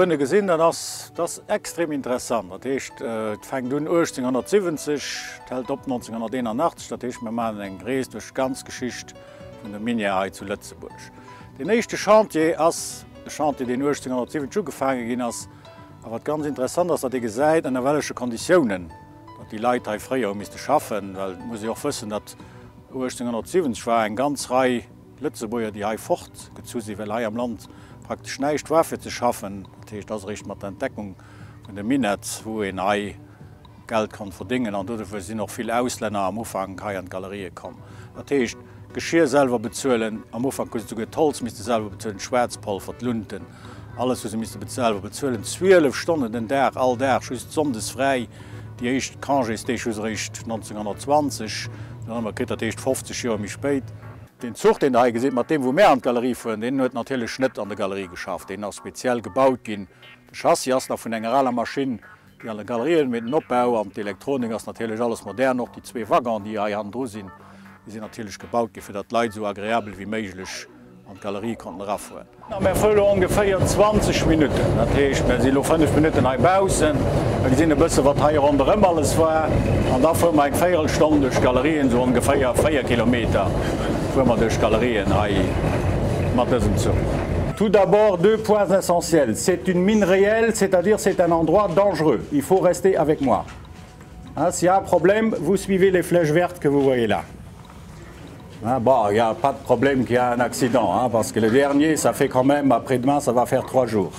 Duerne gesinn, dat ass das extrem interessant. Dat heescht äh, fängt un 1870 hält op 1981, dat heescht mir malen eng Rees duerch ganz Geschicht vun der Minier hei zu Lëtzebuerg. Den éischte Chantier ass e Chantier, den 1870 ugefaange ginn ass, A wat ganz interessant ass, datt ee gesäit, ënner welleche Konditiounen datt déi Leit hei fréier hu misste schaffen, well et muss ee och wëssen, datt 1870 war eng ganz Rei Lëtzebuerger, déi hei fortgezu sinn, well hei am Land praktesch näischt war fir ze schaffen. Dat heescht, et ass eréischt mat der Entdeckung vun de Minett, wou een hei, Geld konnt verdéngen an doduerfir sinn och vill Auslänner am Ufank hei an d'Galerië komm. Dat heescht, Geschir selwer bezuelen, am Ufank hu se souguer d'Holz misste selwer bezuelen, d'Schwaarzpolver, d'Lunten, alles hu se misste selwer bezuelen, 12 Stonnen den Dag, all Dag, just sonndes fräi. Déi éischt Congésdeeg hu se eréischt 1920 dann ëmmer kritt, dat heescht 50 Joer méi spéit. Deen Zuch, deen Der hei gesitt, mat deem wou mär an d'Galerie fueren, deen huet natierlech net an der Galerie geschafft, deen ass speziell gebaut ginn. De Chassis ass nach vun enger aler Maschinn. Déi alle Galerien, mee den Opbau an d'Elektronik ass natierlech alles modern. Och déi zwee Waggone, déi hei hannendru sinn, déi sinn natierlech gebaut gi fir datt d'Leit esou agreabel wéi méiglech an d'Galerie konnten erafueren. Mer fuere lo ongeféier 20 Minutten, dat heescht mer si lo 5 Minutten hei baussen, mer gesinn e bësse wat hei ronderëm alles war an da fuere mer eng Véierelstonn duerch d'Galerien, esou ongeféier 4 Kilometer fuere mer duerch d'Galerien hei mat dësem Zuch. Tout d'abord, deux points essentiels. C'est une mine réelle, c'est-à-dire c'est un endroit dangereux. Il faut rester avec moi. Hein, s'il y a un problème, vous suivez les flèches vertes que vous voyez là. Hein, bon, il n'y a pas de problème qu'il y a un accident, hein, parce que le dernier, ça fait quand même, après-demain, ça va faire trois jours.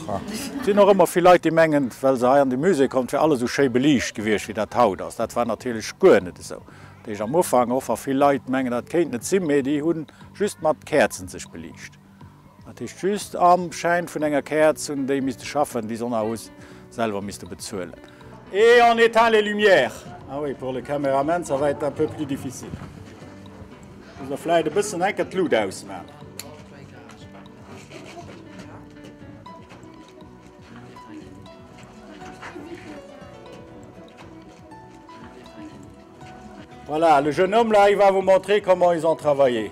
Et sinn och ëmmer vill Leit, déi mengen, well se hei an de Musée kommen, 't wär alles esou schéi beliicht gewiescht, wéi dat haut ass. Dat war natierlech guer net esou. Deeg am Ufank och, wa vill Leit mengen, dat kéint net sinn, mee déi hu just mat Käerzen sech beliicht. Dat heescht just am Schäin vun enger Käerz hunn déi misste schaffen, déi s'en haut selwer misste bezuelen. Et en éteint les lumières. Ah oui, pour le cameraman ça va être un peu plus difficile. Muss er vläit e bëssen enker d'Lut ausman. Voilà, le jeune homme là, il va vous montrer comment ils ont travaillé.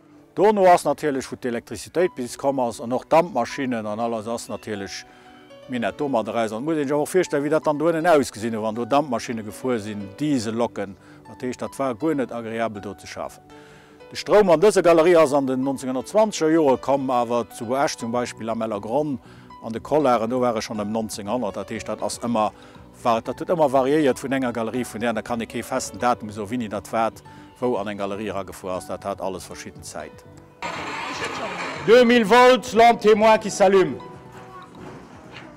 Dono ass natierlech wou d'Elektrizitéit bis komm ass an och d'Dampmaschinnen an alles ass natierlech mir net domat eraus. An et muss een sech awer och virstellen wéi dat dann doennen ausgesinn huet wann do Dampmaschinne gefuer sinn, Dieselloken. Dat heescht dat war guer net agreabel do ze schafen. De Stroum an dëser Galerie ass an den 1920 er Jore komm, awer zu Esch zum Beispill am Ellergronn an de Collaren do war e schonn ëm 1900. Dat heescht dat ass ëmmer War, datt et ëmmer variéiert vun enger Galerie vun där aner, kann ee kee festen Datum soen, wéini datt wat wou an eng Galerie eragefuer ass, dat hat alles verschidden Zäit. 2000 volts lampe témoin qui s'allume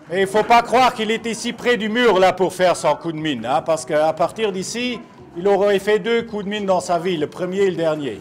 mais il faut pas croire qu'il était ici près du mur là pour faire son coup de mine hein parce que à partir d'ici il aurait fait deux coups de mine dans sa vie le premier et le dernier.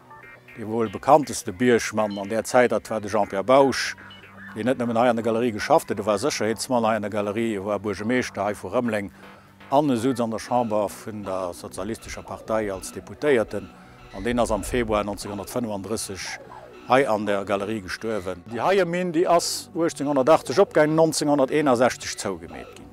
Dee wuel bekannteste Biergmann an där Zäit, dat war de Jean-Pierre Bausch, deen net nëmmen hei an der Galerie geschafft huet, e war Sécherheetsmann hei an der Galerie, e war Buergemeeschter hei vu Rëmeleng an e sutz an der Chamber vun der sozialistescher Partei als Deputéierten an deen ass am Februar 1935 hei an der Galerie gestuerwen. Déi heie Minn, déi ass 1880 opgaangen, 1961 zougemeet ginn.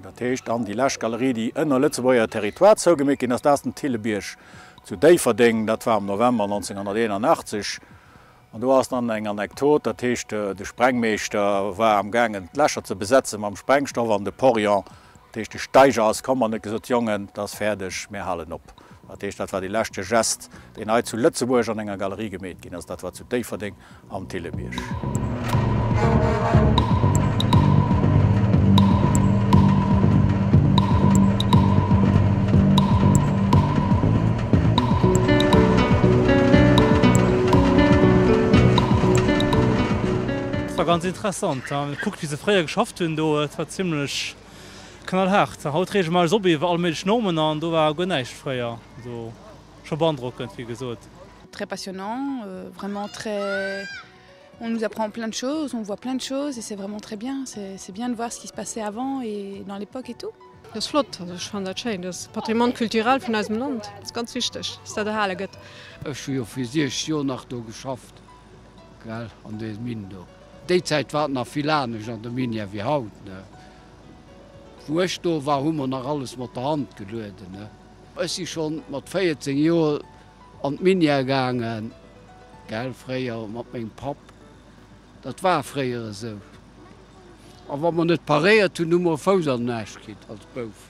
Dat heescht dann déi lescht Galerie, déi ënner Lëtzebuerger Territoire zougemeet ginn ass, dat ass den Thillebierg zu Déifferdeng. Dat war am November 1981 an do ass dann eng Anekdot, dat heescht de Sprengmeeschter war am gaangen d'Lächer ze besetze mam Sprengstoff an de Porion, dat heescht de Steiger, ass komm an huet gesot, Jongen, et ass fäerdeg, mir halen op. Dat heescht, dat war dee leschte Gest, deen hei zu Lëtzebuerg an enger Galerie gemeet ginn ass, dat war zu Déifferdeng An d'Thillebierg. War ganz interessant ha gekuckt wéi se fréier geschafft hunn do, et war zimlech knallhaart. Haut reege mer eis op iwwer all méiglech Normen an do war guer näischt fréier, also scho beandrockend wéi gesot. Très passionnant, vraiment très on nous apprend plein de choses, on voit plein de choses et c'est vraiment très bien, c'est bien de voir ce qui se passait avant et dans l'époque et tout. Dat ass flott, also ech fannen dat schéin, dat ass Patrimoine culturel vun eisem Land, dat ass ganz wichteg, dass dat erhale gëtt. Ech hu jo fir 6 Joer nach do geschafft, gell, an deem Mine do. Déi Zäit war et nach vill anescht an der Minière wéi haut. Wou ech do war, hu mer nach alles mat der Hand gelueden. Ech si schonn mat 14 Joer An d'Minière gaangen, gell, fréier mat mengem Papp. Dat war fréier esou. A wa mer net paréiert hunn, hu mer e Fouss an den Aarsch kritt als Bouf.